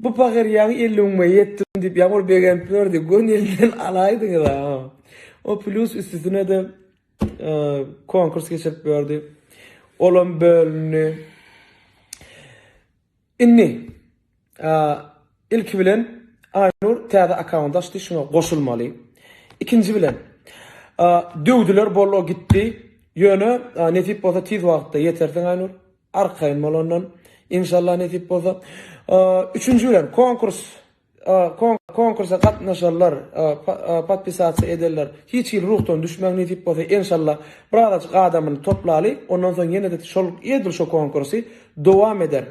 Bu pahyr ýaňy elliňme ýetdim diýip ýaňy ol begenip ýördi. Göni elinden alaýdyňyz-a. O plyus üstesine-de konkurs geçirip ýördi. Olam bölündi. Indi ilki bilen Aýnur täze akkaunt açdy, şuňa goşulmaly. Ikinji bilen döwdüler bollo gitdi. Ýöne nesip bolsa tiz wagtda ýetersiň Aýnur. Arkaýyn bolandan inşallah nesip bolsa. Üçünji bilen konkurs konkursa gatnaşarlar podpisasiýa ederler hiç hili ruhdan düşmäň nesip bolsa enşalla birazajyk adamyny toplaly ondan soň ýene-de şol edil şu konkursy dowam eder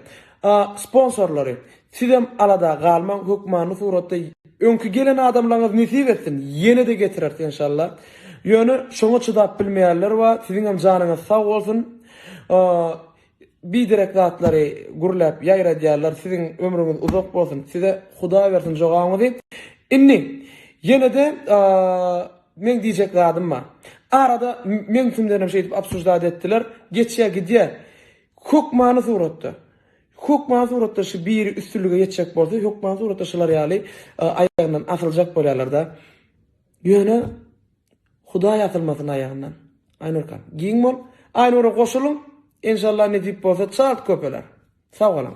sponsorlary Sizem alada galmaň hökmany suratda Öňki gelen adamlaryňyz nesip etsin ýenede getireris enşalla. Ýöne şoňa çydap bilmeýänler bar siziňem janyňyz sag bolsun biderek zatlary gürläp ýaýradýarlar siziň ömrüňiz uzak bolsun size hudaý bersin jogabyňyzy indi ýenede meň diýjek zadym bar arada meň üstümdenem şeýdip obsuždat etdiler geçýä gidýä hökmany suratda Hökman suratda şu biri üstünlige ýetjek bolsa hökman suratda şular ýaly aýagyndan asyljak bolýarlarda. Ýöne Hudaý asylmasyn aýagyndan. Aynurkam giň bol. Aynura goşulyň. Enşalla nesip bolsa çalt köpeler. Sag boluň.